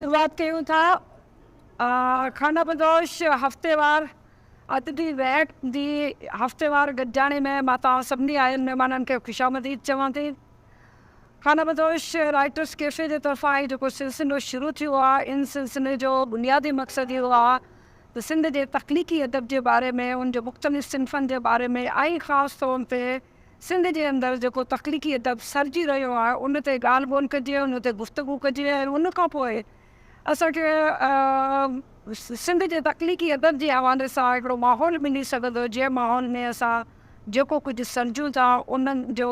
شروعات ڪيون ٿا خانه بدوش هفتيوار ادبي ويهڪ جي هفتيوار گڏجاڻي ۾ مان توهان سڀني آيل مهمانن کي خوشامديد چوان ٿي خانه بدوش رائٽرس ڪيفي جي طرفان هي جيڪو سلسلو شروع ٿيو آهي ان سلسلي جو بنيادي مقصد اهو آهي ته سنڌ جي تخليقي ادب جي باري ۾ ان جي مختلف صنفن جي باري ۾ ۽ خاص طور تي سنڌ جي اندر جيڪو تخليقي ادب سرجي رهيو آهي ان تي ڳالهه ٻولهه ڪجي ان تي گفتگو ڪجي ۽ ان کان پوء اسان کي سنڌ جي تخليقي ادب جي حوالي سان هڪڙو ماحول ملي سگهندو جنهن ماحول ۾ اسان جيڪو ڪجهه سرجون ٿا ان جو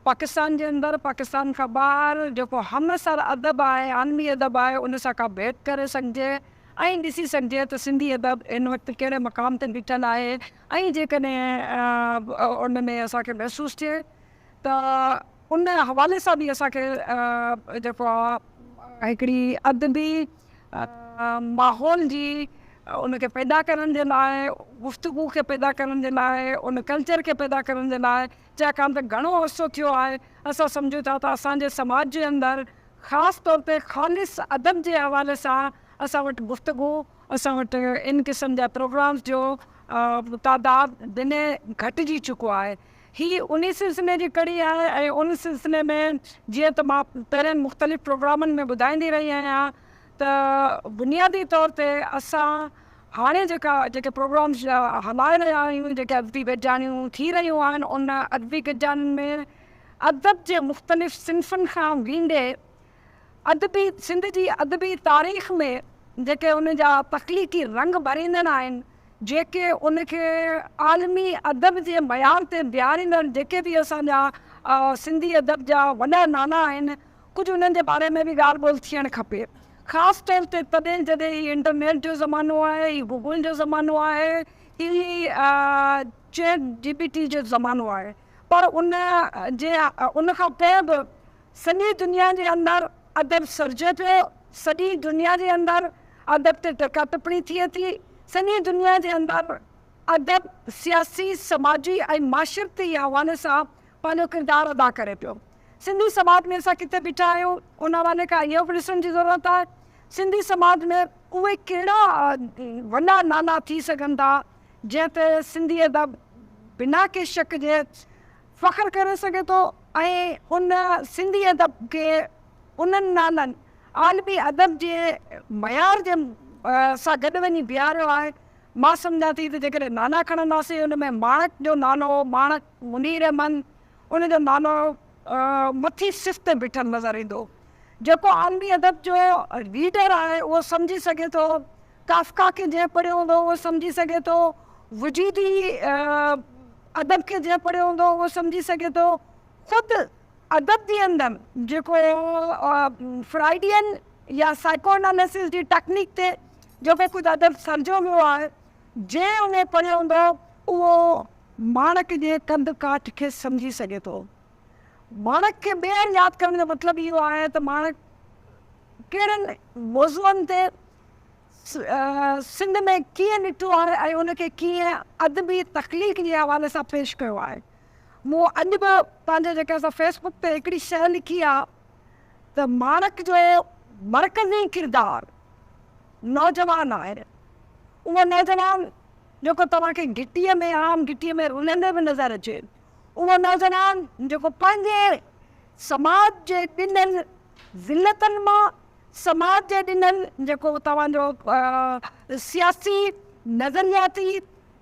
پاڪستان جي اندر پاڪستان کان ٻاهر جيڪو همعصر ادب آهي عالمي ادب آهي ان سان ڪا ڀيٽ ڪري سگهجي ۽ ڏسي سگهجي ته سنڌي ادب هن وقت ڪهڙي مقام تي بيٺل آهي ۽ جيڪڏهن ان ۾ اسان کي محسوس ٿئي ته ان حوالي سان به اسان کي جيڪو آ هڪڙي ادبي ماحول جي ان کي پيدا ڪرڻ جي لاء گفتگو کي پيدا ڪرڻ جي لاء ان ڪلچر کي پيدا ڪرڻ جي لاء چاڪان ته گهڻو عرصو ٿيو آهي اسان سمجهون ٿا ته اسان جي سماج جي اندر خاص طور تي خالص ادب جي حوالي سان اسان وٽ گفتگو اسان وٽ ان قسم جا پروگرامز جو تعداد دني گهٽجي چڪو آهي. هي انهي سلسلي جي ڪڙي آهي ۽ ان سلسلي ۾ جيئن ته مان پهرين مختلف پروگرامن ۾ ٻڌائيندي رهي آهيان ته بنيادي طور تي اسان هاڻي جيڪا جيڪي پروگرامز هلائي رهيا آهيون جيڪي ادبي گڏجاڻيون ٿي رهيون آهن ان ادبي گڏجاڻين ۾ ادب جي مختلف صنفن کان ويندي ادبي سنڌ جي ادبي تاريخ ۾ جيڪي ان جا تخليقي رنگ ڀريندڙ آهن، جيڪي ان کي عالمي ادب جي معيار تي بيهاريندڙ جيڪي به اسان جا سنڌي ادب جا وڏا نالا آهن، ڪجهه انهن جي باري ۾ به ڳالهه ٻولهه ٿيڻ کپي. خاص طور تي تڏهن جڏهن هي انٽرنيٽ جو زمانو آهي، هي گوگل جو زمانو آهي، هي چيٽ جي پي ٽي جو زمانو آهي. پر ان جي ان کان پوء به سڄي دنيا جي اندر ادب سرجي پيو، سڄي دنيا جي اندر ادب تي ٽڪا ٽپڻي ٿئي ٿي، سڄي دنيا جي اندر ادب سياسي، سماجي ۽ معاشرتي حوالي سان پنهنجو ڪردار ادا ڪري پيو. سنڌي سماج ۾ اسان ڪٿي بيٺا آهيون ان حوالي کان اهو به ڏسڻ جي ضرورت آهي سنڌي سماج ۾ اهي ڪهڙا وڏا نالا ٿي سگهن ٿا جنهن تي سنڌي ادب بنا ڪنهن شڪ جي فخر ڪري سگهي ٿو ۽ هن سنڌي ادب کي انهن نالن عالمي ادب جي معيار جي سان گڏ وڃي بيهاريو آهي. مان سمجهان ٿي ته جيڪڏهن نالا کڻنداسين ان ۾ ماڻڪ جو نالو ماڻڪ منير احمد ان جو نالو مٿي صف تي بيٺل نظر ايندو. جيڪو عالمي ادب جو ريڊر آهي اهو سمجهي سگهي ٿو. ڪافڪا کي جنهن پڙهيو هوندو اهو سمجهي سگهي ٿو. وجودي ادب کي جنهن پڙهيو هوندو اهو سمجهي سگهي ٿو خود ادب جي اندر جيڪو فرائيڊين يا سائيڪو اناليسز جي ٽيڪنيڪ تي جيڪو ڪجهه ادب سرجيو ويو آهي جنهن اهي پڙهيو هوندو اهو ماڻڪ جي ڪنڌ ڪاٺ کي سمجهي سگهي ٿو. ماڻڪ کي ٻيهر ياد ڪرڻ جو مطلب اهو آهي ته ماڻڪ ڪهڙن موضوعن تي، سنڌ ۾ ڪيئن ڏٺو آهي ۽ ان کي ڪيئن ادبي تخليق جي حوالي سان پيش ڪيو آهي. مون اڄ به پنهنجي جيڪي اسان فيس بڪ تي هڪڙي شيء لکي آهي ته ماڻڪ جو مرڪزي ڪردار نوجوان آهي. اهو نوجوان جيڪو توهان کي گهٽيء ۾ عام گهٽيء ۾ رلندي به نظر اچي. اهو نوجوان جيڪو پنهنجي سماج جي ڏنل ذلتن مان، سماج جي ڏنل جيڪو توهان جو سياسي نظرياتي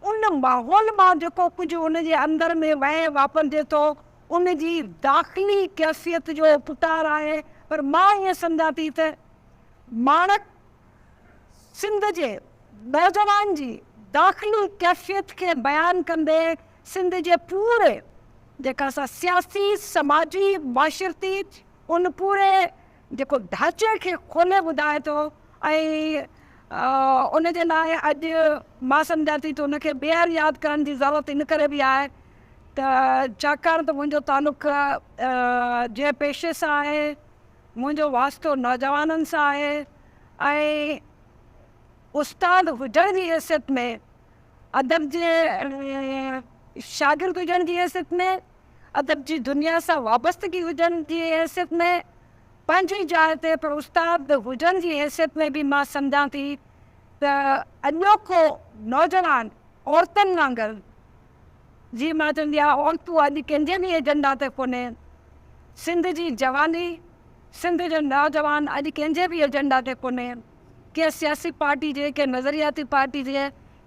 ان ماحول مان جيڪو ڪجهه ان جي اندر ۾ وهي واپرجي ٿو ان جي داخلي ڪيفيت جو پٽار آهي پر مان ائين سمجهان ٿي ته ماڻڪ سنڌ جي نوجوان جي داخلي ڪيفيت کي بيان ڪندي سنڌ جي پوري جيڪا سا سياسي سماجي معاشرتي ان پوري جيڪو ڍانچي کي کولي ٻڌائي ٿو ۽ ان جي لاء اڄ مان سمجهان ٿي ته ان کي ٻيهر ياد ڪرڻ جي ضرورت ان ڪري به آهي ته ڇاڪاڻ ته منهنجو تعلق جنهن پيشي سان آهي، منهنجو واسطو نوجوانن سان آهي ۽ استاد هجڻ جي حيثيت ۾ ادب جي شاگرد هجڻ جي حيثيت ۾. ادب جي دنيا سان وابستگي هجڻ جي حيثيت ۾ پنهنجي جاء تي پر استاد هجڻ جي حيثيت ۾ به مان سمجهان ٿي ته اڄوڪو نوجوان عورتن وانگر جيئن مان چوندي آهيان عورتون اڄ ڪنهن جي به ايجنڊا تي ڪونهي سنڌ جي جواني سنڌ جو نوجوان اڄ ڪنهن جي به ايجنڊا تي ڪونهي ڪنهن سياسي پارٽي جي ڪنهن نظرياتي پارٽي جي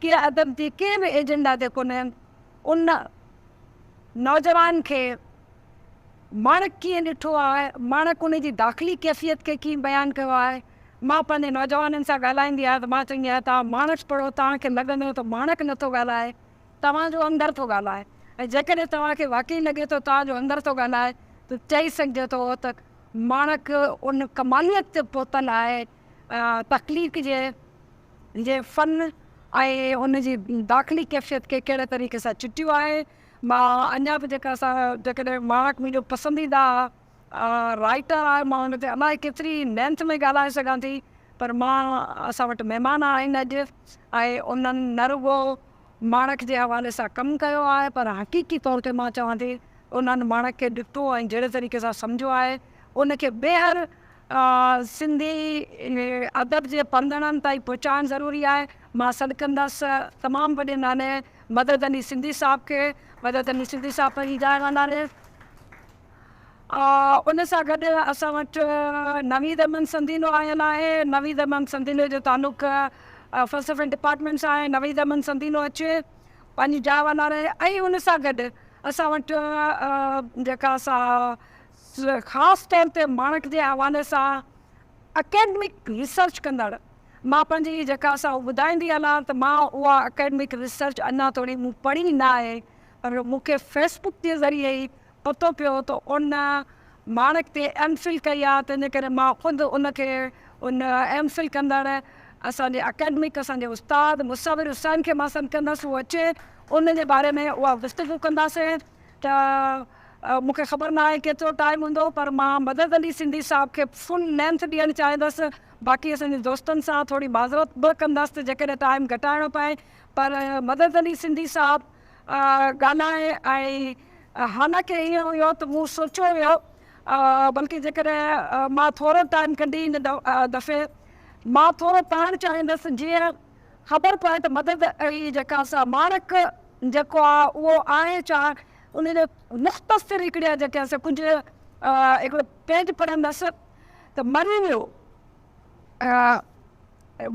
ڪنهن ادب جي ڪنهن به ايجنڊا تي ڪونهي ان نوجوان کي ماڻڪ ڪيئن ڏٺو آهي، ماڻڪ ان جي داخلي ڪيفيت کي ڪيئن بيان ڪيو آهي. مان پنهنجي نوجوانن سان ڳالهائيندي آهيان ته مان چوندي آهيان توهان ماڻڪ پڙهو توهان کي لڳندو ته ماڻڪ نٿو ڳالهائي توهان جو اندر ٿو ڳالهائي ۽ جيڪڏهن توهان کي واقعي لڳي ٿو توهان جو اندر ٿو ڳالهائي ته چئي سگهجي ٿو ته ماڻڪ ان ڪماليت تي پهتل آهي تخليق جي جي فن ۽ ان جي داخلي ڪيفيت کي ڪهڙي طريقي سان چٽيو آهي. مان اڃا به جيڪا اسان جيڪڏهن ماڻڪ منهنجو پسنديده رائيٽر آهي مان ان تي الائي ڪيتري لينٿ ۾ ڳالهائي سگهان ٿي پر مان اسان وٽ مهمان آهن اڄ ۽ انهن نه رڳو ماڻڪ جي حوالي سان ڪم ڪيو آهي پر حقيقي طور تي مان چوان ٿي انهن ماڻڪ کي ڏٺو ۽ جهڙي طريقي سان سمجهيو آهي ان کي ٻيهر سنڌي ادب جي پنڌڻن تائين پهچائڻ ضروري آهي. مان سڏ ڪندس تمام وڏي ناني مدد علي سنڌي صاحب کي. مدد علي سنڌي صاحب پنهنجي جاء واندا آهن. ان سان گڏ اسان وٽ نويد احمد سنڌينو آيل آهي. نويد احمد سنڌينو جو تعلق فلسفي ڊپارٽمينٽ سان آهي. نويد احمد سنڌينو اچي پنهنجي جاء واندا رهي ۽ ان سان گڏ اسان وٽ جيڪا سا خاص طور تي ماڻڪ جي حوالي سان اڪيڊمڪ ريسرچ ڪندڙ مان پنهنجي ئي جيڪا سا ٻڌائيندي هلان ته مان اها اڪيڊمڪ ريسرچ اڃا توڻي مون پڙهي نه آهي پر مون کي فيس بڪ جي ذريعي ئي پتو پيو ته ان ماڻڪ تي ايم فل ڪئي آهي تنهنجي ڪري مان خود ان کي ان ايم فل ڪندڙ اسان جي اڪيڊمڪ اسان جي استاد مصور حسين کي مان سڏ ڪندس هو اچي ان جي باري ۾ اها گفتگو ڪنداسين ته مون کي خبر نه آهي ڪيترو ٽائيم هوندو پر مان مدد علي سنڌي صاحب کي فل لينٿ ڏيڻ چاهيندس باقي اسان جي دوستن سان ٿوري معذرت به ڪندس ته جيڪڏهن ٽائيم گهٽائڻو پئي پر مدد علي سنڌي صاحب ڳالهائي ۽ حالانڪه ائين هيو ته مون سوچيو هيو بلڪه جيڪڏهن مان ٿورو ٽائيم ڪڍي هن دفعي مان ٿورو پڙهڻ چاهيندس جيئن خبر پئي ته مدد علي جيڪا سا ماڻڪ جيڪو آهي اهو آهي ڇا ان جا مختصر هڪڙيا جيڪي اسان ڪجهه هڪڙو پيج پڙهندس ته مري ويو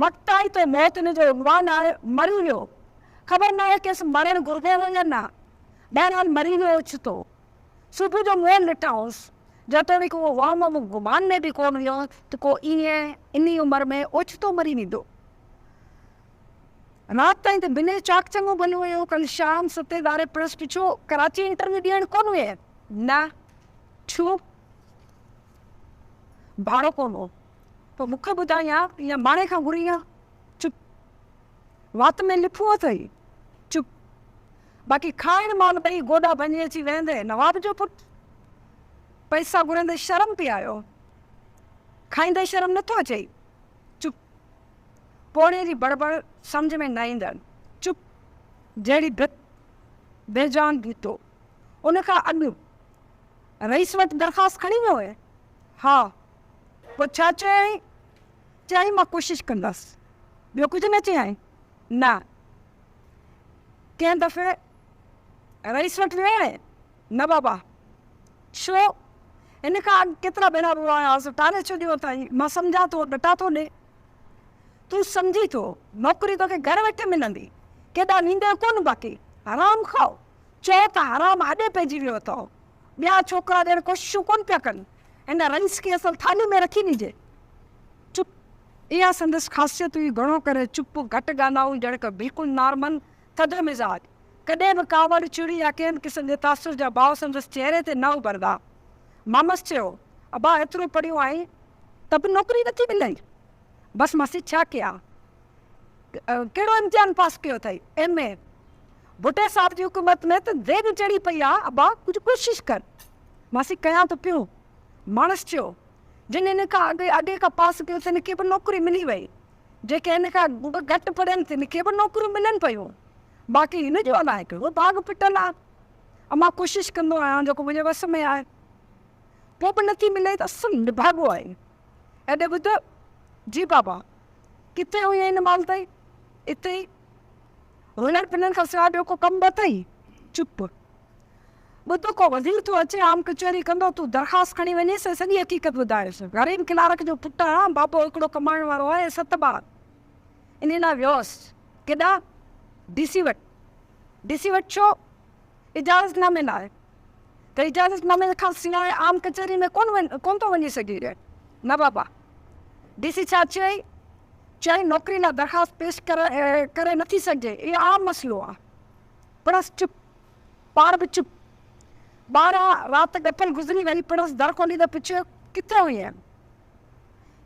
وقت آئي تو موت ان جو عنوان آهي مري ويو خبر نه آهي کيس مرڻ گهربو هو يا نه بهرحال مري ويو اوچتو صبح جو مون ڏٺائونس جيتوڻيڪ اهو وهم مون گمان ۾ به ڪونه هيو ته ڪو ائين انهي عمر ۾ اوچتو مري ويندو. رات تائين ته بنهه چاڪ چڱو ڀلو هيو. ڪل شام ستين ڌاري پريس پڇيو، ڪراچي انٽرويو ڏيڻ ڪونه ويئي؟ نه. ڇو؟ ڀاڙو ڪونه هو. پوء مون کي ٻڌاء يا ايئن ماڻهي کان گهرين ها؟ چپ. وات ۾ لفون اٿئي؟ چپ. باقي کائڻ مال ٻئي گوڏا ڀڃي اچي ويهندي، نواب جو پٽ! پئسا گهرندي شرم پئي آيو. کائيندي شرم نٿو اچئي؟ چپ! پوڙهي جي بڙبڙ سمجهه ۾ نه ايندڙ چپ جهڙي ڀت، بي جان ڀيتو، ان کان اڳ رئيس وٽ درخواست کڻي ويو هئين؟ ها! پوء ڇا چيائين؟ چيائين مان ڪوشش ڪندس. ٻيو ڪجهه نه چيائين؟ نه. ڪنهن دفعي رئيس وٽ ويو آهين؟ نه بابا. ڇو؟ ان کان اڳ ڪيترا ڀيرا به وهايا هئس، ٽاري ڇڏيو اٿائي. مان سمجهان ٿو، ڏٽا ٿو ڏي. تون سمجهين ٿو، نوڪري توکي گهر ويٺي ملندي. ڪيڏا نينگر ڪونه باقي. حرام کاء. چئو ته حرام هڏي پئجي ويو اٿئو. ٻيا ڇوڪرا ڏيڻ ڪوششون ڪونه پيا ڪن. هن رئيس کي اصل ٿالهي ۾ رکي ڏجي. چپ. اها سندس خاصيت هئي، گهڻو ڪري چپ، گهٽ ڳالهائون، ڄڻڪ بلڪل نارمل، ٿڌ مزاج، ڪڏهن به ڪاوڙ، چڙ يا ڪنهن به قسم جي تاثر جا باء سندس چهري تي نه اڀرندا. مامس چيو، ابا ايترو پڙهيو آهين ته به نوڪري نٿي ملئي؟ بس ماسي ڇا ڪيان؟ ڪهڙو امتحان پاس ڪيو اٿئي؟ M A. ڀٽي صاحب جي حڪومت ۾ ته ديڳ چڙهي پئي آ، ابا ڪجهه ڪوشش ڪر. ماسي ڪيان ٿو پيو. مامس چيو، جن هن کان اڳي اڳي کان پاس ڪيو تن کي به نوڪري ملي وئي. جيڪي هن کان به گهٽ پڙهيل تن کي به نوڪريون ملن پيون باقي هن جو الائي ڪهڙو ڀاڳ ڦٽل آ ۽ مان ڪوشش ڪندو آهيان جيڪو منهنجي وس ۾ آهي پوء به نٿي ملي ته اصل نڀاڳو آهي هيڏي ٻڌ جي بابا ڪٿي هئين هن مال تائين اتي ئي هلڻ ڦلڻ کان سواء ٻيو ڪو ڪم به اٿئي چپ. ٻڌ ڪو وزير ٿو اچي عام ڪچهري ڪندو تون درخواست کڻي وڃيس ۽ سڄي حقيقت ٻڌايس غريب ڪلارڪ جو پٽ آهيان بابو هڪڙو ڪمائڻ وارو آهي ست ٻار انهي لاء ويوس ڪيڏانهن ڊي سي وٽ ڊي سي وٽ ڇو اجازت نامي لاء ته اجازت نامي کان سواء عام ڪچهري ۾ ڪون ڪون ٿو وڃي سگهي رهي نه بابا ڊي سي ڇا چيائين چيائين نوڪري لاء درخواست پيش ڪري نٿي سگهجي اهو عام مسئلو آهي پڻس چپ، پاڻ به چپ. ٻارهن رات ڳٺل گذري وئي، پڻس در کولي ته پڇيو، ڪٿي هئين؟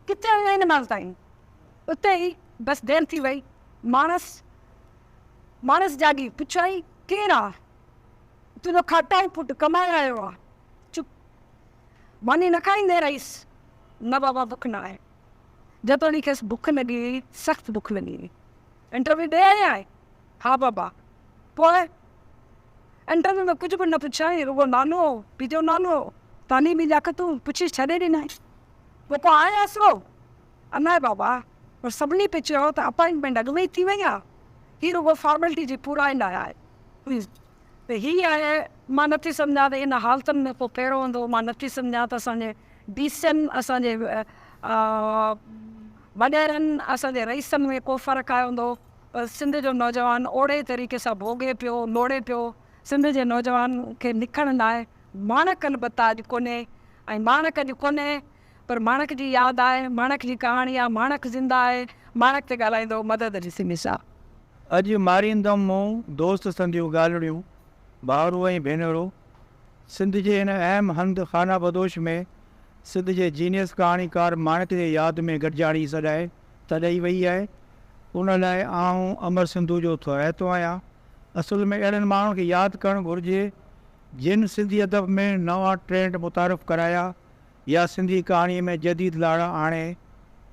ڪٿي هئين هن مهل تائين؟ اتي ئي، بس دير ٿي وئي. ماڻس ماڻس جاڳي، پڇيائين، ڪير آ؟ تنهنجو کاٽائي پٽ، ڪمائي آيو آ. چپ. ماني نه کائيندين رئيس؟ نه بابا، بک نه آهي. جيتوڻيڪ کيس بک لڳي هئي، سخت بک لڳي هئي. انٽرويو ڏئي آئي آهين؟ ها بابا! پوء؟ انٽرويو ۾ ڪجهه به نه پڇيائين، رڳو نالو، پيجو نالو، تعليمي لياقتون پڇي ڇڏي ڏنائين. پوء ڪو آهي آسرو؟ الاء بابا! پر سڀني پئي چيو ته اپائنٽمينٽ اڳ ۾ ئي ٿي وئي آهي، هي رڳو فارملٽي جي پورائي لاء آهي. هن، ته هي آهي، مان نٿي سمجهان ته ان حالتن ۾ ڪو ڪهڙو هوندو، مان نٿي سمجهان ته اسان جي ڊي سين، اسان جي وڏيرن، اسان جي رئيسن ۾ ڪو فرق آيو هوندو. پر سنڌ جو نوجوان اوڙي طريقي سان ڀوڳي پيو، لوڙي پيو. سنڌ جي نوجوان کي لکڻ لاء ماڻڪ البته اڄ ڪونهي ۽ ماڻڪ اڄ ڪونهي پر ماڻڪ جي ياد آهي، ماڻڪ جي ڪهاڻي آهي، ماڻڪ زنده آهي، ماڻڪ تي ڳالهائيندو مدد علي سمي صاحب. اڄ ماريندم مون دوست سنديون ڳالهڙيون، ڀائرو ۽ ڀينرو! سنڌ جي هن اهم هنڌ خانابدوش ۾ سنڌ جي جينيس ڪهاڻيڪار ماڻڪ جي ياد ۾ گڏجاڻي سڏائي. ته ڏئي ويئي آهي، ان لاء آئون امر سنڌو جو ٿورائتو آهيان. اصل ۾ اهڙن ماڻهن کي ياد ڪرڻ گهرجي، جن سنڌي ادب ۾ نوان ٽرينڊ متعارف ڪرايا يا سنڌي ڪهاڻيء ۾ جديد لاڙا آڻي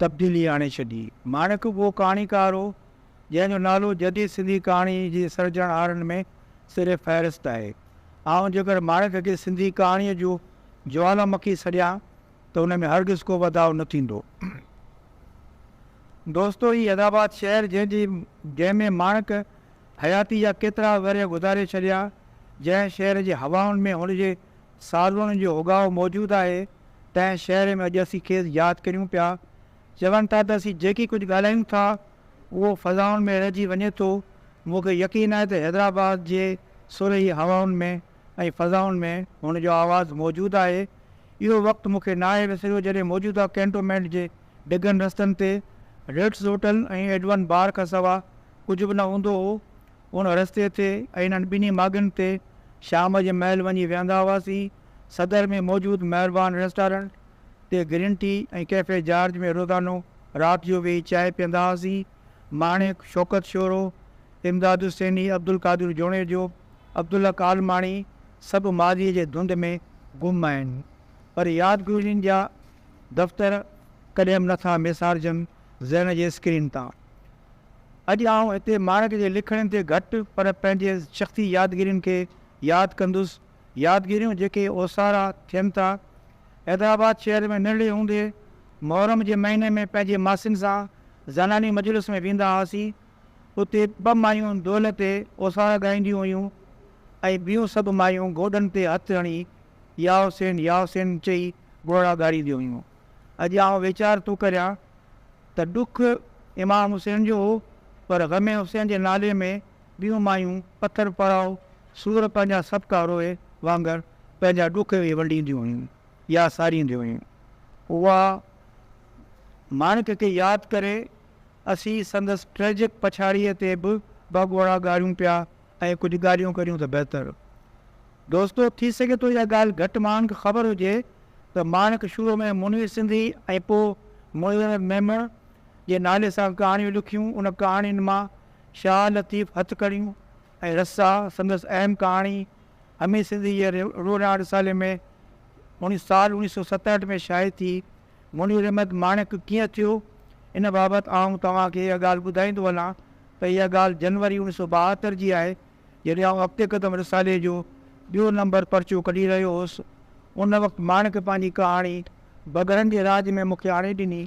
تبديلي آڻي ڇڏي. ماڻڪ اهو ڪهاڻيڪار هو، جنهن جو نالو جديد سنڌي ڪهاڻي جي سرجڻهارن ۾ سر فهرست آهي. آئون جيڪر ماڻڪ کي سنڌي ڪهاڻيء جو جوالامکي سڏيان، ته ان ۾ هرگز ڪو واڌاء نه ٿيندو. دوستو هي الهاباد شهر جنهن جي جنهن ۾ ماڻڪ حياتي جا ڪيترا ورهيه گذاري ڇڏيا، جنهن شهر جي هوائن ۾ هن جي سالوڻن جو هوڳاء موجود آهي، تنهن شهر ۾ اڄ اسين کيس ياد ڪريون پيا. چون ٿا ته اسين جيڪي ڪجهه ڳالهايون ٿا اهو فضائن ۾ رهجي وڃي ٿو، مون کي يقين آهي ته حيدرآباد جي سرهي هوائن ۾ ۽ فضائن ۾ هن جو آواز موجود آهي. اهو وقت مون کي ناهي وسريو جڏهن موجوده ڪينٽومينٽ جي ڊگهن رستن تي ريٽس هوٽل ۽ ايڊون بار کان سوا ڪجهه به نه هوندو هو. ان رستي تي ۽ انهن ٻنهي ماڳن تي شام جي مهل وڃي ويهندا هئاسين. صدر ۾ موجود مهربان ريسٽارنٽ تي گرين ٽي ۽ ڪيفي جارج ۾ روزانو رات جو ويهي چانهه پيئندا هئاسين. ماڻڪ، شوڪت شورو، امداد حسيني، عبدالقادر جوڻيجو، عبدالحق عالماڻي سڀ ماضيء جي ڌنڌ ۾ گم آهن، پر يادگيرين جا دفتر ڪڏهن به نٿا ميسارجن ذهن جي اسڪرين تان. اڄ آئون هتي ماڻڪ جي لکڻين تي گهٽ پر پنهنجي شخصي يادگيرين کي ياد ڪندس يادگيريون جيڪي اوسارا ٿين ٿا. حيدرآباد شهر ۾ ننڍڙي هوندي محرم جي مهيني ۾ پنهنجي ماسين سان زناني مجلس ۾ ويندا هئاسين. اتي ٻه مايون دولهه تي اوسارا ڳائينديون هيون ۽ ٻيون سڀ مايون گوڏن تي هٿ هڻي يا حسين يا حسين چئي ڳوڙها ڳارينديون هيون. اڄ آئون ويچار ٿو ڪريان ته ڏک امام حسين جو هو پر غم حسين جي نالي ۾ ٻيون مايون پٿر پراء سور پنهنجا سڀڪا روئي وانگر پنهنجا ڏک وي ونڊينديون هيون يا سارينديون هيون. اها ماڻڪ کي ياد ڪري اسين سندس ٽريجڪ پڇاڙيء تي به ٻه ڳوڙها ڳاريون پيا ۽ ڪجهه ڳالهيون ڪريون ته بهتر. دوستو ٿي سگهي ٿو اها ڳالهه گهٽ ماڻهن کي خبر هجي ته ماڻڪ شروع ۾ منير سنڌي ۽ پوء مظهر ميمڻ جي نالي سان ڪهاڻيون لکيون ان ڪهاڻين مان شاهه لطيف هٿڪڙيون ۽ رسا سندس اهم ڪهاڻي همي سنڌ جي روراڻ رسالي ۾ سال اوڻيهه سو ستهٺ ۾ شايع ٿي. منير احمد ماڻڪ ڪيئن ٿيو ان بابت آئون توهان کي اها ڳالهه ٻڌائيندو هلان ته اها ڳالهه جنوري اوڻيهه سو ٻاهتر جي آهي جڏهن آئون اڳتي قدم رسالي جو ٻيو نمبر پرچو ڪڍي رهيو هوس ان وقت ماڻڪ پنهنجي ڪهاڻي بگهڙن جي راڄ ۾ مون کي آڻي ڏني.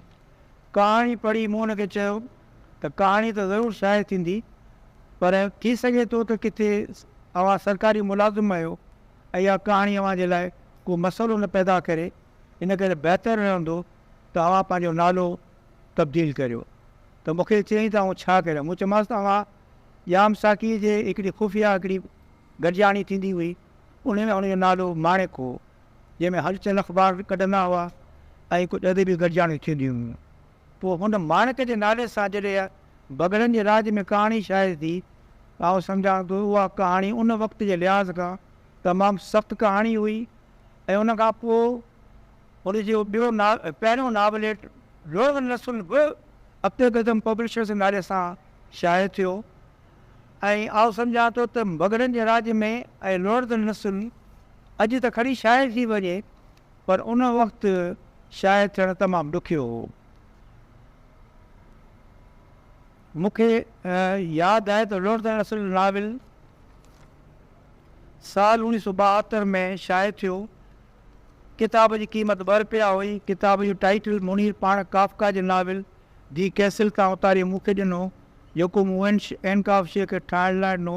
ڪهاڻي پڙهي مون ان کي چيو. ته ڪهاڻي ته ضرور شايع ٿيندي پر ٿي سگهي ٿو ته ڪٿي اوهان سرڪاري ملازم آهيو ۽ اها ڪهاڻي اوهان جي لاء ڪو مسئلو نه پيدا ڪري ان ڪري بهتر رهندو ته اوهان پنهنجو نالو تبديل ڪريو ته مون کي چيائين ته آئون ڇا ڪريان مون چيومانس ته اوهان ڄام ساقيء جي هڪڙي خفيه هڪڙي گڏجاڻي ٿيندي هئي ان ۾ ان جو نالو ماڻڪ هو جنهن ۾ هلچل اخبار ڪڍندا هئا ۽ ڪجهه ادبي گڏجاڻيون ٿينديون هيون. پوء هن ماڻڪ جي نالي سان جڏهن بگهڙن جي راڄ ۾ ڪهاڻي شايع ٿي ته آئون سمجهان ٿو اها ڪهاڻي ان وقت جي لحاظ کان تمام سخت ڪهاڻي هئي ۽ ان کان پوء هن جو ٻيو پهريون ناوليٽ روغن رسول به اپي قدم پبلشرز جي نالي سان شايع ٿيو ۽ آئون سمجهان ٿو ته بگهڙن جي راڄ ۾ ۽ روغن رسول اڄ ته کڻي شايع ٿي وڃي پر ان وقت شاعر ٿيڻ تمام ڏکيو هو. مون کي ياد آهي ته لوڙ تائين اصل ناول سال اوڻيهه سؤ ٻاهتر ۾ شايع ٿيو. ڪتاب جي قيمت ٻه رپيا هئي. ڪتاب جو ٽائيٽل منير پاڻ ڪافڪا جي ناول دي ڪيسل تان اتاري مون کي ڏنو، جيڪو مون وينش ۽ ڪافشي کي ٺاهڻ لاء ڏنو،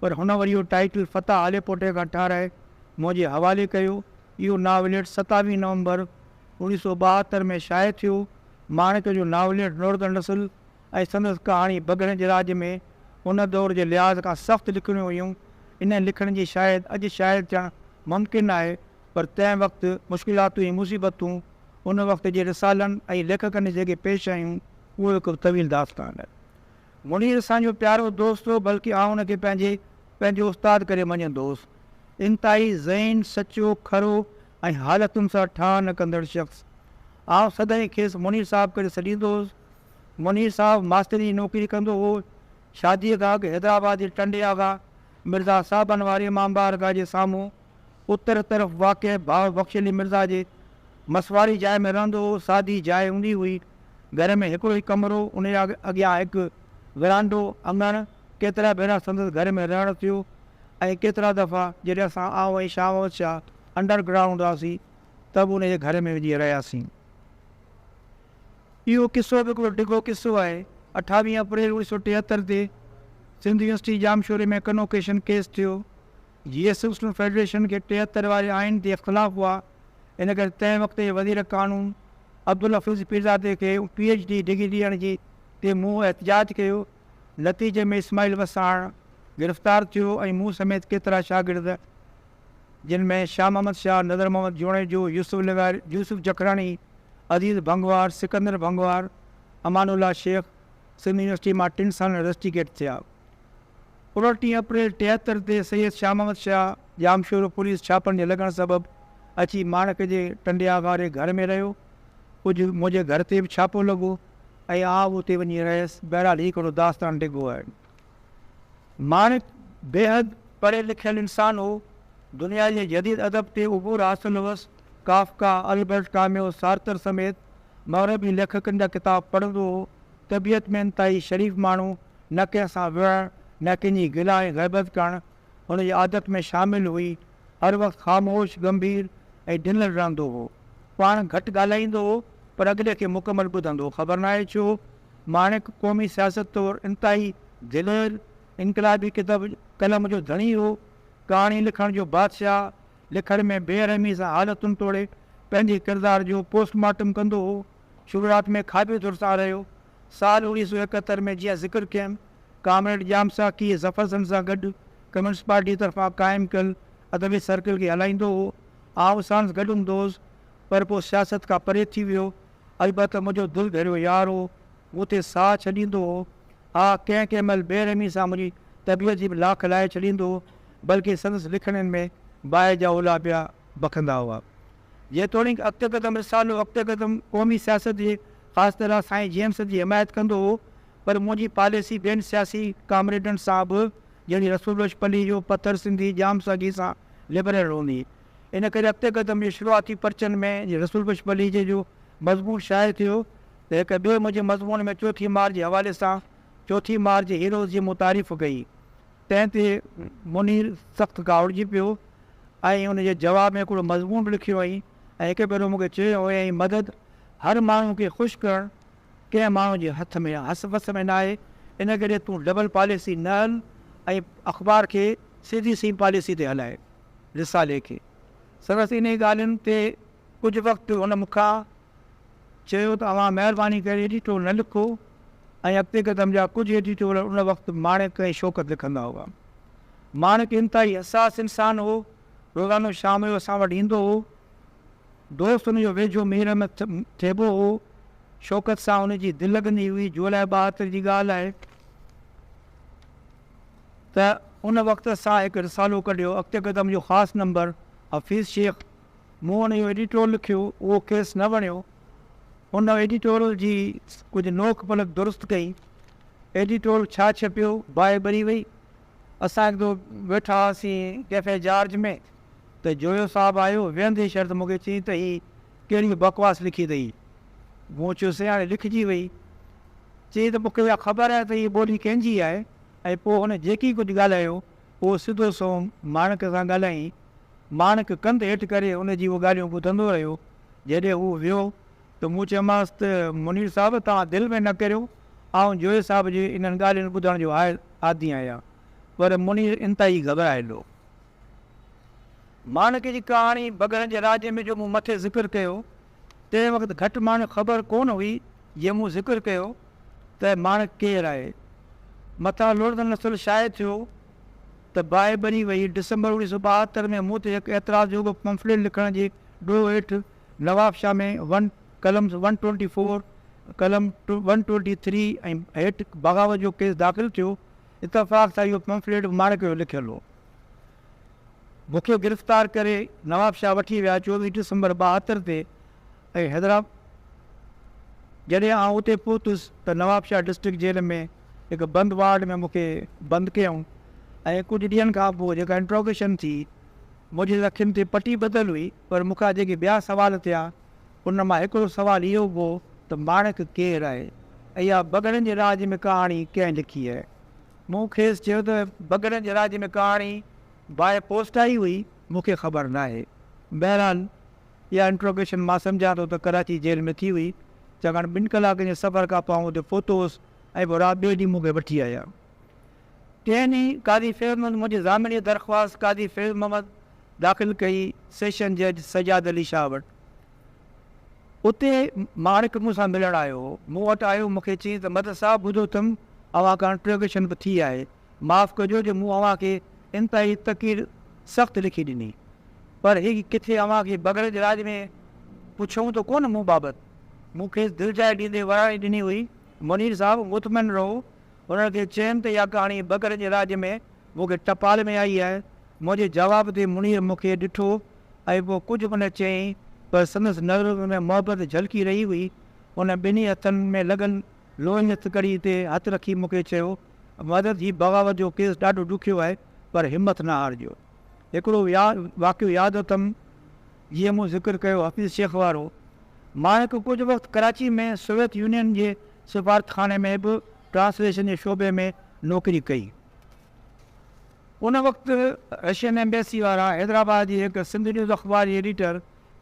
پر هن وري اهو ٽائيٽل فتح هاليپوٽي کان ٺاهرائي منهنجي حوالي ڪيو. اهو ناوليٽ ستاويهه نومبر اوڻيهه سؤ ٻاهتر ۾ شايع ٿيو. ماڻڪ جو ناوليٽ نوردن نسل ۽ سندس ڪهاڻي بگهڙن جي راڄ ۾ ان دور جي لحاظ کان سخت لکڻيون هيون. انهن لکڻين جي شايد اڄ شايد ٿيڻ ممڪن ناهي پر تنهن وقت مشڪلاتون ۽ مصيبتون ان وقت جي رسالن ۽ ليکڪن جيڪي پيش آيون اهو هڪ طويل داستان آهي. منير اسان جو پيارو دوست هو بلڪه آئون ان کي پنهنجي پنهنجو استاد ڪري مڃيندو هوس. انتهائي ذهين، سچو، کرو ۽ حالتن سان ٺاهه نه ڪندڙ شخص. آئون سدائين کيس منير صاحب ڪري سڏيندو هوس. منير صاحب ماستريء جي نوڪري ڪندو هو. شاديء کان اڳ حيدرآباد جي ٽنڊي آغا مرزا صاحبن واري امام بارگاهه جي سامهون اتر طرف واقع ڀاء بخش علي مرزا جي مس واري جاء ۾ رهندو هو. سادي جاء هوندي هئي. گهر ۾ هڪڙو ئي ڪمرو، انهيء اڳيان هڪ ورانڊو، اڱڻ، ڪيترا ڀيرا سندس گهر ۾ رهڻ ٿيو ۽ ڪيترا دفعا جڏهن اسان آئون ۽ شاهوت شاهه انڊر گرائونڊ هئاسين ته به ان جي گهر ۾ وڃي رهياسين. اهو قصو به هڪڙو ڊگهو قصو آهي. اٺاويهه اپريل اوڻيهه سؤ ٽيهتر تي سنڌ يونيورسٽي ڄامشوري ۾ ڪنوڪيشن ڪيس ٿيو. جي ايس مسلم فيڊريشن کي ٽيهتر واري آئين تي اختلاف هئا ان ڪري تنهن وقت جي وزير قانون عبدالحفيظ پيرزادي کي پي ايڇ ڊي ڊگري ڏيڻ جي تي مون احتجاج ڪيو. نتيجي ۾ اسماعيل وساڻ گرفتار ٿيو ۽ مون سميت ڪيترا شاگرد جن ۾ شاهه محمد شاهه، نظر محمد جوڻيجو، يوسف لغاري، يوسف جکراڻي، عزيز ڀنگوار، سڪندر ڀنگوار، امان الله شيخ سنڌ يونيورسٽي مان ٽن سالن رسٽيڪيٽ ٿيا. اڻٽيهه اپريل ٽيهتر تي سيد شاهه محمد شاهه ڄامشورو پوليس ڇاپن جي لڳڻ سبب اچي ماڻڪ جي ٽنڊي آغا واري گهر ۾ رهيو. ڪجهه منهنجي گهر تي به ڇاپو لڳو. ۽ آء به اتي وڃي رهيس. بهرحال هي ڪهڙو داستان ڊگهو آهي. ماڻڪ بيحد پڙهيل لکيل انسان هو. دنيا جي جديد ادب تي عبور حاصل هوس. ڪافڪا، البرٽ ڪاميو، سارتر سميت مغربي ليکڪن جا ڪتاب پڙهندو هو. طبيعت ۾ انتهائي شريف ماڻهو، نه ڪنهن سان وڙهڻ، نه ڪنهن جي گلا ۽ غيبت ڪرڻ، هن جي عادت ۾ شامل هئي. هر وقت خاموش، ڳنڀير ۽ ڊنل رهندو هو. پاڻ گهٽ ڳالهائيندو هو، پر اڳلي کي مڪمل ٻڌندو هو. خبر ناهي ڇو، ماڻڪ قومي سياست طور انتهائي دلير، انقلابي ڪتب قلم جو ڌڻي هو. ڪهاڻي لکڻ جو بادشاهه، لکڻ ۾ بي رحمي سان حالتن توڙي پنهنجي ڪردار جو پوسٽ مارٽم ڪندو هو. شروعات ۾ کاٻي ڌر سان رهيو. سال اوڻيهه سؤ ايڪهتر ۾ جيئن ذڪر ڪيم، ڪامريڊ ڄام ساقيء ظفر زنگ سان گڏ ڪميونسٽ پارٽيء طرفان قائم ڪيل ادبي سرڪل کي هلائيندو هو. آئون ساڻس گڏ هوندو هوس، پر پوء سياست کان پري ٿي ويو. البته منهنجو دل ڀيريو يار هو، مون تي ساهه ڇڏيندو هو. ها، ڪنهن ڪنهن مهل بي رحميء سان منهنجي طبيعت جي به لاک لاهي ڇڏيندو هو، بلڪه سندس لکڻين ۾ باهه جا اولها پيا بکندا هئا. جيتوڻيڪ اختقدم رسالو اختقدم قومي سياست جي خاص طرح سائين جيمس جي حمايت ڪندو هو پر منهنجي پاليسي ٻين سياسي ڪامريڊن سان به جهڙي رسول بخش پليجو، پٿر سنڌي، ڄام ساڳي سان لبرل هوندي. ان ڪري اختقدم جي شروعاتي پرچن ۾ جي رسول بخش پليجي جو مضمون شايع ٿيو ته هڪ ٻئي منهنجي مضمون ۾ چوٿين مارچ جي حوالي سان چوٿين مارچ جي هيروز جي مون تعريف ڪئي. تنهن تي منير سخت ڪاوڙجي پيو ۽ ان جي جواب ۾ هڪڙو مضمون به لکيو هئائين ۽ هڪ ڀيرو مون کي چيو هيائين مدد هر ماڻهو کي خوش ڪرڻ ڪنهن ماڻهو جي هٿ ۾ يا هس وس ۾ ناهي ان ڪري تون ڊبل پاليسي نه هل ۽ اخبار کي سڌي سئي پاليسي تي هلائي. رسالي کي سندس انهي ڳالهين تي ڪجهه وقت هن مون کان چيو ته اوهان مهرباني ڪري ايڊيٽور نه لکو ۽ اڳتي قدم جا ڪجهه ايڊيٽور ان وقت ماڻڪ ۽ شوڪت لکندا هئا. ماڻڪ انتهائي حساس انسان هو، روزانو شام جو اسان وٽ ايندو هو. دوست هن جو ويجهو مير احمد ٿيٻو هو. شوڪت سان هن جي دل لڳندي هئي، جولاء ٻاهتر جي ڳالهه آهي ته ان وقت اسان هڪ رسالو ڪڍيو، اڳتي قدم جو خاص نمبر حفيظ شيخ، مون وٽ اهو ايڊيٽورل لکيو، اهو کيس نه وڻيو. هن ايڊيٽورل جي ڪجهه نوڪ پلڪ درست ڪئي. ايڊيٽورل ڇا ڇپيو، باهه ٻري وئي. اسان هڪ دفعو ويٺا هئاسين ڪيفي جارج ۾ ته جويو صاحب آيو، ويهندي شرط مون کي چيائين ته هي ڪهڙي بڪواس لکي اٿئي. مون چيو سي هاڻي لکجي وئي. چيائين ته مون کي اها خبر آهي ته هيء ٻولي ڪنهن جي آهي ۽ پوء هن جيڪي ڪجهه ڳالهايو هو سڌو سنئون ماڻڪ سان ڳالهائين. ماڻڪ ڪنڌ هيٺ ڪري ان جي اهي ڳالهيون ٻڌندو رهيو. جڏهن هو ويو ته مون چيومانس ته منير صاحب توهان دل ۾ نه ڪريو، آئون جويي صاحب جي انهن ڳالهين ٻڌڻ جو هائل عادي آهيان. پر منير انتهائي گهٻرايل هو. ماڻڪ جي ڪهاڻي بگهڙن جي راڄ ۾ جو مون مٿي ذڪر ڪيو، تنهن وقت گهٽ ماڻهن خبر ڪونه هئي جيئن مون ذڪر ڪيو ته ماڻڪ ڪير آهي. مٿان لوڙهندڙ نسل شايع ٿيو ته باهه ٻري وئي. ڊسمبر اوڻيهه سؤ ٻاهتر ۾ مون تي هڪ اعتراض جوڳو پمفليٽ لکڻ جي ڏوهه هيٺ نوابشاهه ۾ ون قلم ون ٽوئنٽي فور قلم ون ٽوئنٽي ٿري ۽ هيٺ بغاوت جو ڪيس داخل ٿيو. اتفاق سان اهو پمفليٽ به ماڻڪ جو لکيل هو. مون کي گرفتار ڪري نواب شاهه وٺي ويا چوويهه ڊسمبر ٻاهتر تي ۽ حيدرآب جڏهن آئون اتي پهتس ته نواب شاهه ڊسٽرڪٽ جيل ۾ هڪ بند وارڊ ۾ مون کي بند ڪيائون ۽ ڪجهه ڏينهن کان پوء جيڪا انٽروگيشن ٿي منهنجي اکين تي پٽي ٻڌل هئي پر مون کان جيڪي ٻيا سوال ٿيا ان مان هڪڙو سوال اهو هو ته ماڻڪ ڪير آهي ۽ اها بگهڙن جي راڄ ۾ ڪهاڻي ڪنهن لکي آهي مون کيس چيو ته بگهڙن جي راڄ ۾ ڪهاڻي باء پوسٽ آئي هئي، مون کي خبر ناهي. بهرحال اها انٽروگيشن مان سمجهان ٿو ته ڪراچي جيل ۾ ٿي هئي، ڇاڪاڻ ٻن ڪلاڪن جي سفر کان پوء آئون اتي پهتو هوس ۽ پوء رات ٻئي ڏينهن مون کي وٺي آيا. ٽئين ڏينهن قاضي فيض محمد منهنجي ضامن جي درخواست قاضي فيض محمد داخل ڪئي سيشن جج سجاد علي شاهه وٽ. اتي ماڻڪ مون سان ملڻ آيو هو. مون وٽ آيو مون کي چيائين ته مدد صاحب ٻڌو ٿم اوهان کان انٽروگيشن به ٿي آهي. معاف ڪجو جو مون اوهان کي انتهائي تقير سخت لکي ڏني. پر هي ڪٿي اوهان کي بغل جي راڄ ۾ پڇيائون ته ڪونه مون بابت. مون کيس دلجاء ڏيندي وراڻي ڏني هئي. منير صاحب مطمئن رهو. انهن کي چيم ته اها ڪهاڻي بغل جي راڄ ۾ مون کي ٽپال ۾ آئي آهي. منهنجي جواب تي منير مون کي ڏٺو ۽ پوء ڪجهه ان چيائين، پر سندس نظرن ۾ محبت جهلڪي رهي هئي. هن ٻنهي هٿن ۾ لڳل لوهي جي هٿڪڙي تي هٿ رکي مون کي چيو، مدد هي بغاوت جو ڪيس ڏاڍو ڏکيو آهي، پر همٿ نه هارجو. هڪڙو واقعو ياد اٿم، جيئن مون ذڪر ڪيو حفيظ شيخ وارو. مان هڪ ڪجهه وقت ڪراچي ۾ سوويت يونين جي سفارتخاني ۾ به ٽرانسليشن جي شعبي ۾ نوڪري ڪئي. ان وقت رشين ايمبيسي وارا حيدرآباد جي هڪ سنڌ نيوز اخبار جي ايڊيٽر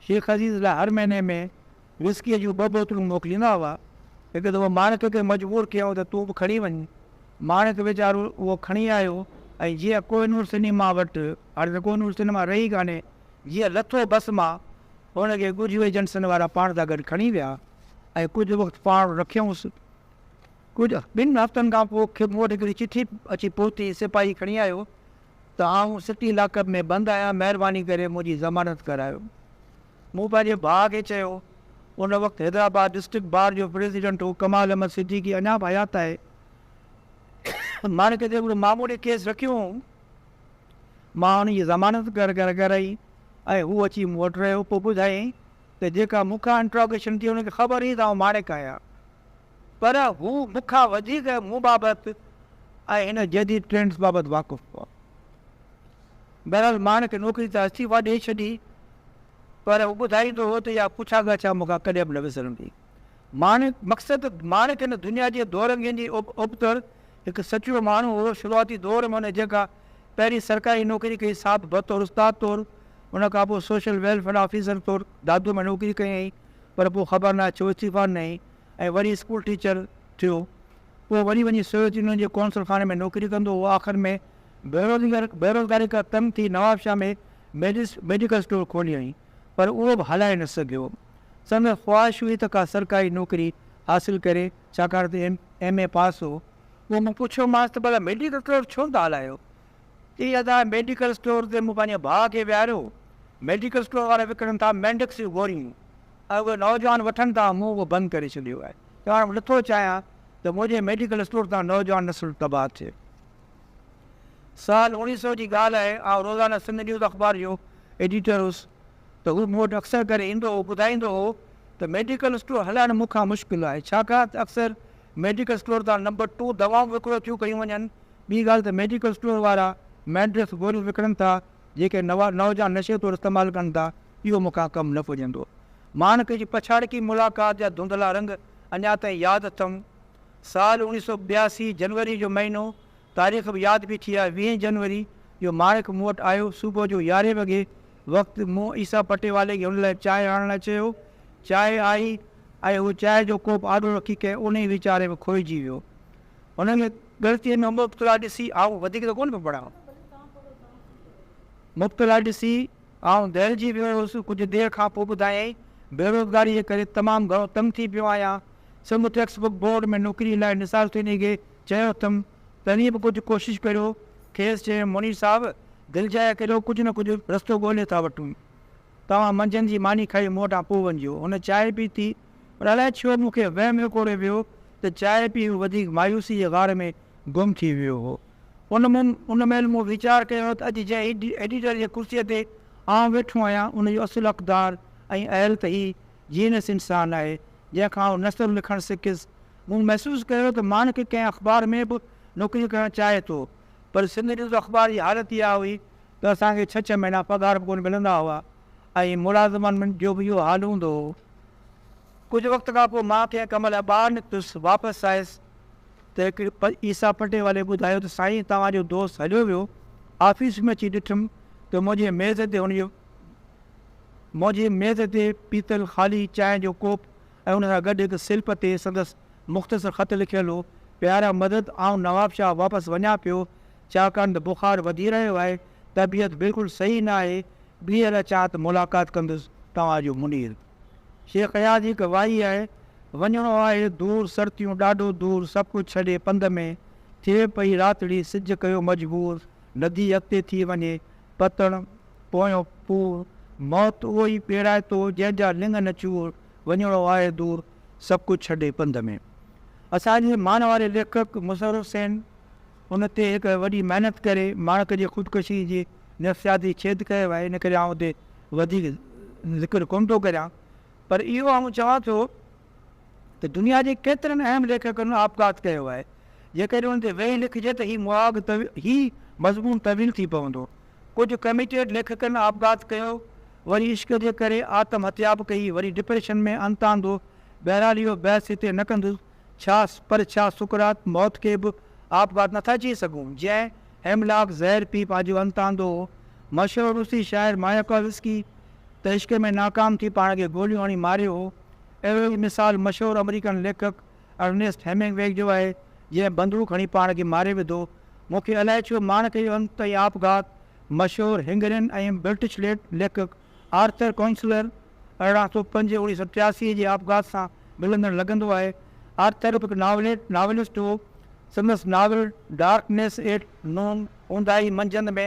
شيخ عزيز لاء هر مهيني ۾ وسڪيء جون ٻه بوتلون موڪليندا هئا. هڪ دفعو ماڻڪ کي مجبور ڪيائون ته تون به کڻي وڃ. ماڻڪ ويچارو اهو کڻي آيو ۽ جيئن ڪوهه نور سئنيما وٽ، هاڻي ته ڪوهه نور سئنيما رهي ئي ڪانهي، جيئن لٿو بس مان، هن کي ڳجهو ايجنسن وارا پاڻ سان گڏ کڻي ويا ۽ ڪجهه وقت پاڻ رکيائونس. ڪجهه ٻن هفتن کان پوء مون وٽ هڪڙي چٺي اچي پهتي، سپاهي کڻي آيو ته آئون سٽي لاڪ اپ ۾ بند آهيان، مهرباني ڪري منهنجي ضمانت ڪرايو. مون پنهنجي ڀاء کي چيو، ان وقت حيدرآباد ڊسٽرڪٽ بار جو پريزيڊنٽ هو ڪمال احمد صديقي اڃا به حيات آهي. مان ڪٿي هڪڙو معمولي ڪيس رکيو هئم. مان ان جي ضمانت ڪرائي ۽ هو اچي مون وٽ رهيو. پوء ٻڌايائين ته جيڪا مون کان انٽراگيشن ٿي ان کي خبر هئي ته آئون ماڻيڪ آهيان. پر هو مون کان وڌيڪ مون بابت ۽ هن جديد ٽرينڊز بابت واقف هئا. بهرحال مان هن کي نوڪري ته استعيفا ڏئي ڇڏي، پر هو ٻڌائيندو هو ته اها پڇا ڳاڇا مون کان ڪڏهن به نه وسرندي. مان مقصد مان کين دنيا جي دورنگين جي ابتڙ هڪ سچو ماڻهو هو، شروعاتي دور ۾ هن جيڪا پهرين سرڪاري نوڪري ڪئي سا به بطور استاد طور، ان کان پوء سوشل ويلفيئر آفيسر طور دادوء ۾ نوڪري ڪيائين. پر پوء خبر ناهي ڇو استعيفا ڏنائين ۽ وري اسڪول ٽيچر ٿيو. پوء وري وڃي سوويت يونين جي قونصل خاني ۾ نوڪري ڪندو هو. آخر ۾ بيروزگاري کان تنگ ٿي نوابشاهه ۾ ميڊس ميڊيڪل اسٽور کوليائين، پر اهو به هلائي نه سگهيو. سندس خواهش هئي ته ڪا سرڪاري نوڪري حاصل ڪري، ڇاڪاڻ ته ايم ايم اي پاس هو. پوء مون پڇيومانس ته ڀلا ميڊيڪل اسٽور ڇو نه ٿا هلايو؟ اي ادا ميڊيڪل اسٽور تي مون پنهنجي ڀاء کي ويهاريو، ميڊيڪل اسٽور وارا وڪڻن ٿا مينڊڪس جون گوريون ۽ اهي نوجوان وٺن ٿا، مون اهو بند ڪري ڇڏيو آهي ته هاڻ نٿو چاهيان ته منهنجي ميڊيڪل اسٽور تان نوجوان نسل تباهه ٿئي. سال اوڻيهه سؤ جي ڳالهه آهي، آئون روزانه سنڌ نيوز اخبار جو ايڊيٽر هوس ته هو مون وٽ اڪثر ڪري ايندو هو، ٻڌائيندو هو ته ميڊيڪل اسٽور هلائڻ مون کان مشڪل آهي ڇاڪاڻ ته اڪثر ميڊيڪل اسٽور تان نمبر ٽو دوائون وڪرو ٿيون ڪيون وڃن، ٻي ڳالهه ته ميڊيڪل اسٽور وارا مينڊريس گوريون وڪڻن ٿا، جيڪي نوا نوجوان نشي طور استعمال ڪن ٿا، اهو مون کان ڪم نه پڄندو. ماڻڪ جي پڇاڙڪي ملاقات جا ڌنڌلا رنگ اڃا تائين ياد اٿم. سال اوڻيهه سؤ ٻياسي جنوري جو مهينو، تاريخ به ياد پئي ٿي آهي، ويهين جنوري جو ماڻڪ مون وٽ آيو، صبح جو يارهين وڳي وقت مون عيسيٰ پٽيوالي کي هن لاء چانهه آڻڻ لاء چيو. چانهه آئي ۽ هو چانهه جو ڪوپ آڏو رکي ڪنهن اونهي ويچاري ۾ کوئجي ويو. هن کي ڳڻتيء ۾ مبتلا ڏسي آئون وڌيڪ ته ڪونه پيو پڙهان. مبتلا ڏسي آئون دهلجي ويو هيس. ڪجهه دير کان پوء ٻڌايائين، بيروزگاريء جي ڪري تمام گهڻو تنگ ٿي پيو آهيان. سه مون ٽيڪسٽ بڪ بورڊ ۾ نوڪريء لاء نثار ٿيڻي کي چيو اٿم، تنهن به ڪجهه ڪوشش ڪريو. کيس چيم، منير صاحب، دل جاء ڪريو، ڪجهه نه ڪجهه رستو ڳولي ٿا وٺون. توهان منجهند جي ماني کائي مون وٽان پوء وڃجو. هن چانهه پيتي، پر الائي ڇو مون کي وهم وڪوڙي ويو ته چانهه پي هو وڌيڪ مايوسي جي غار ۾ گم ٿي ويو هو. ان مهل مون ويچار ڪيو ته اڄ جنهن ايڊيٽر جي ڪرسيء تي آئون ويٺو آهيان، ان جو اصل حقدار ۽ اهل ته هي جينس انسان آهي، جنهن کان آئون نثر لکڻ سکيس. مون محسوس ڪيو ته ماڻڪ ڪنهن اخبار ۾ به نوڪري ڪرڻ چاهي ٿو پر سنڌ نيوز اخبار جي حالت اها هئي ته اسان کي ڇهه ڇهه مهينا پگهار به ڪونه ملندا هئا ۽ ملازمن جو به اهو حال هوندو هو. ڪجهه وقت کان پوء مان ڪنهن ڪم لاء ٻاهر نڪتس، واپس آيس ته هڪ عيسيٰ پٽي والي ٻڌايو ته سائين توهان جو دوست هليو ويو، آفيس ۾ اچي ڏٺم ته منهنجي ميز تي هن جو منهنجي ميز تي پيتل خالي چانهه جو ڪوپ ۽ ان سان گڏ هڪ سلپ تي سندس مختصر خط لکيل هو، پيارا مدد آئون نوابشاهه واپس وڃان پيو، ڇاڪاڻ ته بخار وڌي رهيو آهي، طبيعت بلڪل صحيح نه آهي، ٻيهر اچان ته ملاقات ڪندس، توهان جو منير. شيخ اياز هڪ وائي آهي، وڃڻو آهي دور سرتيون ڏاڍو دور سڀ ڪجهه ڇڏي پنڌ ۾، ٿئي پئي راتڙي سج ڪيو مجبور، ندي اڳتي ٿي وڃي پتڻ پويون پور، موت اهو ئي پيڙائتو جنهن جا لڱ نه چور، وڃڻو آهي دور سڀ ڪجهه ڇڏي پنڌ ۾. اسان جي مان واري ليکڪ مظهر حسين ان تي هڪ وڏي محنت ڪري ماڻڪ جي خودڪشي جي نفسياتي ڇيد ڪيو آهي ان ڪري آئون اتي وڌيڪ ذڪر ڪونه ٿو ڪريان پر اهو آئون چوان ٿو ته دنيا جي ڪيترن اهم ليکڪن آپگهات ڪيو آهي جيڪڏهن ان تي ويهي لکجي ته هي مهاڳ هي مضمون طويل ٿي پوندو. ڪجهه ڪميٽيڊ ليکڪن آپگهات ڪيو، وري عشق جي ڪري آتم هتيا به ڪئي، وري ڊپريشن ۾ انت آندو. بهرحال اهو بحث هتي نه ڪندس. ڇا پر ڇا سقراط موت کي به آپگهات نٿا چئي سگهون، جنهن هيملاڪ زهر پي پنهنجو انت آندو هو؟ مشهور روسي شاعر ماياڪوفسڪي ته عشق ۾ ناڪام ٿي پاڻ کي گوليون هڻي ماريو هو. اهڙو ئي مثال مشهور آمريڪن ليکڪ ارنيسٽ هيمنگ ويگ جو آهي، جنهن بندوق هڻي پاڻ کي ماري وڌو. مون کي الائي ڇو ماڻ ڪيو انت ۽ آپگهات. مشهور هنگرين ۽ برٽش ليکڪ آرٿر ڪونسلر ارڙهن سؤ پنج اڻيهه سؤ ٽياسي جي آپگهات سان ملندڙ لڳندو آهي. آرٿر هڪ ناوليٽ، ناولسٽ، هو. سندس ناول ڊارڪنيس ايٽ نون، اونداهي منجهند ۾،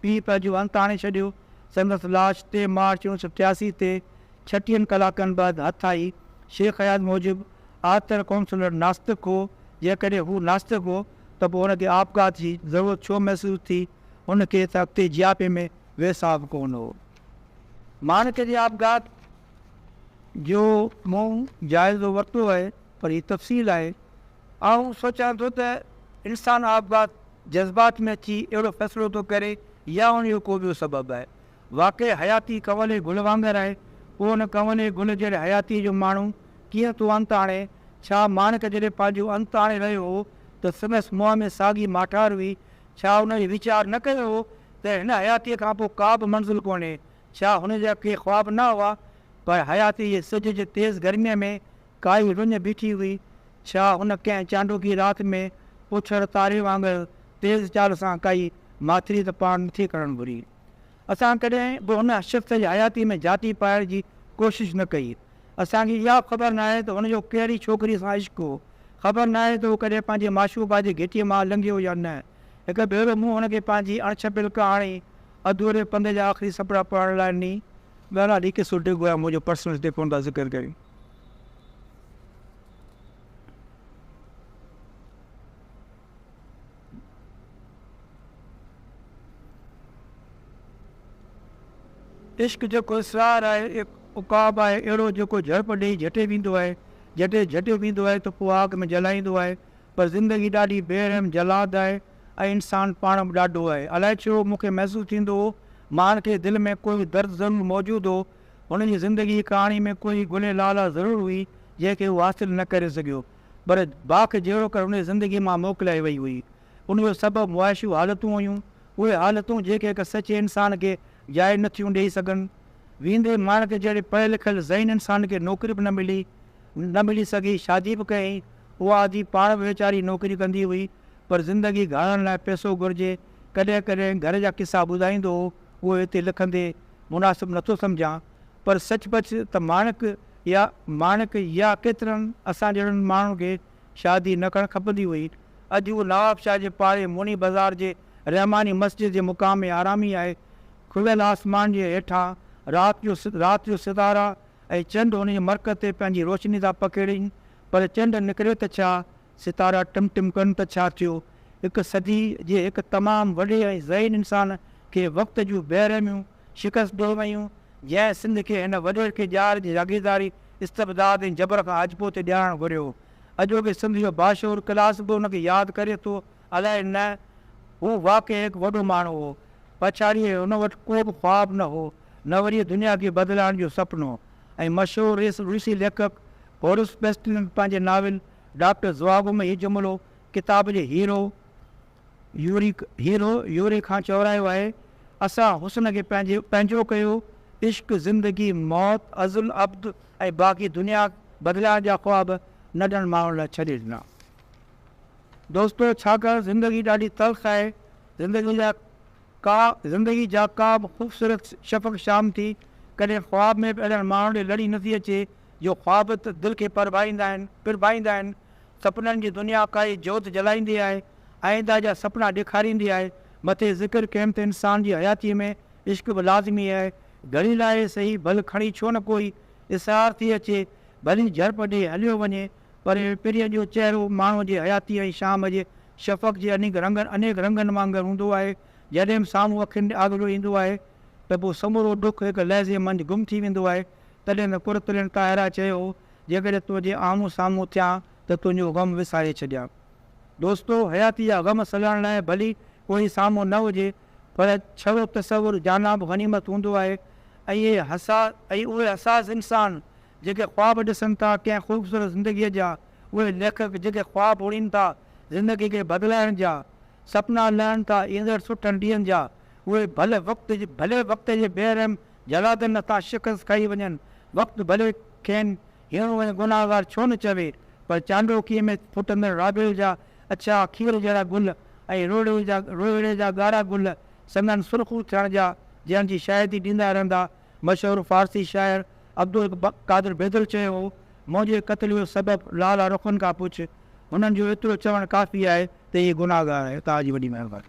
پيء پنهنجو انت آڻي ڇڏيو. سندس لاش ٽي مارچ اوڻ سؤ ٽياسي تي ڇٽيهن ڪلاڪن بعد هٿ آئي. شيخ اياز موجب، آرٿر ڪونسلر ناستڪ هو، جيڪڏهن هو ناستڪ هو ته پوء هن کي آپگهات جي ضرورت ڇو محسوس ٿي؟ هن کي ته اڳتي جياپي ۾ ويساهه به ڪونه هو. مانڪ جي آپگهات جو مون جائزو ورتو آهي، پر هي تفصيل آهي آئون سوچان ٿو ته انسان آپگهات جذبات ۾ اچي اهڙو فيصلو ٿو ڪري يا ان جو ڪو ٻيو سبب آهي. واقعي حياتي ڪنولي گل وانگر آهي، پوء ان ڪنولي گل جهڙي حياتيء جو ماڻهو ڪيئن ٿو انت آڻي؟ ڇا ماڻڪ جڏهن پنهنجو انت آڻي رهيو هو ته سندس منهن ۾ ساڳي ماٺار هئي؟ ڇا هن اهو ويچار نه ڪيو هو ته هن حياتيء کانپوء ڪابه منزل ڪونهي؟ ڇا هن جا ڪي خواب نه هئا؟ پر حياتيء جي سج جي تيز گرميء ۾ ڪائي رڃ بيٺي هئي. ڇا هن ڪنهن چانڊوڪي رات ۾ اوڇڙ تاري وانگر تيز چال سان ڪائي ماٿري ته پاڻ نٿي ڪرڻ گهري. اسان ڪڏهن به هن شخص جي حياتي ۾ جاتي پائڻ جي ڪوشش نه ڪئي. اسان کي اها به خبر ناهي ته هن جو ڪهڙي ڇوڪري سان عشق هو. خبر ناهي ته هو ڪڏهن پنهنجي معشوقه جي گهٽيء مان لنگهيو يا نه. هڪ ڀيرو مون هن کي پنهنجي اڻڇپيل ڪهاڻي اڌوري پنڌ جا آخري سپڙا پڙهڻ لاء ني. ٻهران ليکي سوٽي گويا منهنجو پرسنل ٽيڪون ٿا ذڪر ڪريو. عشق جيڪو اسرار آهي، عقاب آهي اهڙو جيڪو جهڙپ ڏيئي جهٽي ويندو آهي، جڏهن جهٽيو ويندو آهي ته پوء آگ ۾ جلائيندو آهي، پر زندگي ڏاڍي بي رحم جلاد آهي ۽ انسان پاڻ به ڏاڍو آهي. الائي ڇو مون کي محسوس ٿيندو هو، ماڻهن کي دل ۾ ڪو درد ضرور موجود هو، هن جي زندگي جي ڪهاڻي ۾ ڪوئي گلي لالا ضرور هئي، جنهن کي هو حاصل نه ڪري سگهيو، پر باک جهڙو ڪر هن جي زندگي مان موڪلائي وئي هئي. ان جو سبب معاشيون حالتون هيون، اهي حالتون جيڪي هڪ سچي انسان کي جاء نه ٿيون ڏيئي سگهن. ويندي ماڻڪ جهڙي پڙهيل لکيل ذهين انسان کي نوڪري به نه ملي، نه ملي سگهي، شادي به ڪيائين، اها آڌي پاڻ به ويچاري نوڪري ڪندي هئي، پر زندگي گهارڻ لاء پئسو گهرجي، ڪڏهن ڪڏهن گهر جا قصا ٻڌائيندو هو، اهي هتي لکندي. مناسب نٿو سمجهان پر سچ پچ ته ماڻڪ يا ماڻڪ يا ڪيترن اسان جهڙن ماڻهن کي شادي نه ڪرڻ کپندي هئي. اڄ هو نوابشاهه جي پاڙي موني بازار جي رحماني مسجد جي مقام آرامي آهي. کليل آسمان جي هيٺان رات جو رات جو ستارا ۽ چنڊ هن جي مرڪز تي پنهنجي روشني ٿا پکيڙين پر چنڊ نڪري ته ڇا ستارا ٽم ٽم ڪن ته ڇا ٿيو، هڪ صدي جي هڪ تمام وڏي ۽ ذهين انسان کي وقت جون بي رحميون شڪست ڏئي ويون، جنهن سنڌ کي هن وڏير کي ڄار جي جاگيرداري، استبداد ۽ جبر کان آجپو ٿي ڏيارڻ گهريو هو. اڄوڪي سنڌ جو باشعور ڪلاس به ان کي ياد ڪري ٿو، الائي نه؟ هو واقعي هڪ وڏو ماڻهو هو. پڇاڙيء هن وٽ ڪو به خواب نه هو، نه وري دنيا کي بدلائڻ جو سپنو. ۽ مشهور روسي ليکڪ بورس پيسٽنڪ پنهنجي ناول ڊاڪٽر ضواب ۾ هي جملو ڪتاب جي هيرو يوري Hero Yuri کان چورايو آهي، اسان حسن کي پنهنجي پنهنجو ڪيو، عشق، زندگي، موت، ازل ابد ۽ باقي دنيا بدلائڻ جا خواب ننڍن ماڻهن لاء ڇڏي ڏنا. دوستو! ڇاڪاڻ زندگي ڏاڍي تلخ آهي، زندگي جا ڪا زندگي جا ڪا به خوبصورت شفق شام ٿي ڪڏهن خواب ۾ به اهڙن ماڻهن ڏي لڙي نه ٿي اچي جو خواب ته دل کي پرڀائيندا آهن پرڀائيندا آهن سپنن جي دنيا ڪائي جوت جلائيندي آهي آئينده جا سپنا ڏيکاريندي آهي مٿي ذڪر ڪيم ته انسان جي حياتي ۾ عشق به لازمي آهي گهڙي لاء ئي سهي ڀل کڻي ڇو نه ڪوئي اسرار ٿي اچي ڀلي جهرپڏي هليو وڃي پري پريء جو چهرو ماڻهوء جي حياتيء ۽ شام جي شفق جي انيڪ رنگن انيڪ رنگن وانگر هوندو آهي. جڏهن به سامهون اکين ڏي آگرو ايندو آهي ته پوء سمورو ڏک هڪ لحظي منجهه گم ٿي ويندو آهي. تڏهن ته قرطرين طاهره چيو هو، جيڪڏهن تنهنجي آمهون سامهون ٿيان ته تنهنجو غم وساري ڇڏيان. دوستو! حياتيء جا غم سلهڻ لاء ڀلي ڪوئي سامهون نه هجي پر ڇڙو تصور جانان به غنيمت هوندو آهي ۽ اهي حساس ۽ اهي حساس انسان جيڪي خواب ڏسن ٿا ڪنهن خوبصورت زندگيء جا، اهي ليکڪ جيڪي خواب اڻين ٿا زندگي کي بدلائڻ جا، سپنا لهن ٿا ايندڙ سٺن ڏينهن جا، اهي ڀلي وقت ڀلي وقت جي بي رحم جلادن هٿان شڪست کائي وڃن، وقت ڀلي کين هيڻو ۽ گنهگار ڇو نه چوي، پر چانڊوڪيء ۾ ڦٽندڙ رابيل جا اڇا کير جهڙا گل ۽ روهڙي جا روهڙي جا ڳاڙها گل سندن سرخو ٿيڻ جا جنهن جي شاهدي ڏيندا رهندا مشهور فارسي شاعر عبدالقادر بيدل چيو هو، منهنجي قتل جو سبب لالا رخن کان پڇ، هنن جو ايترو چوڻ ڪافي آهي ته هي گناهگار آهي. توهان جي وڏي مهرباني.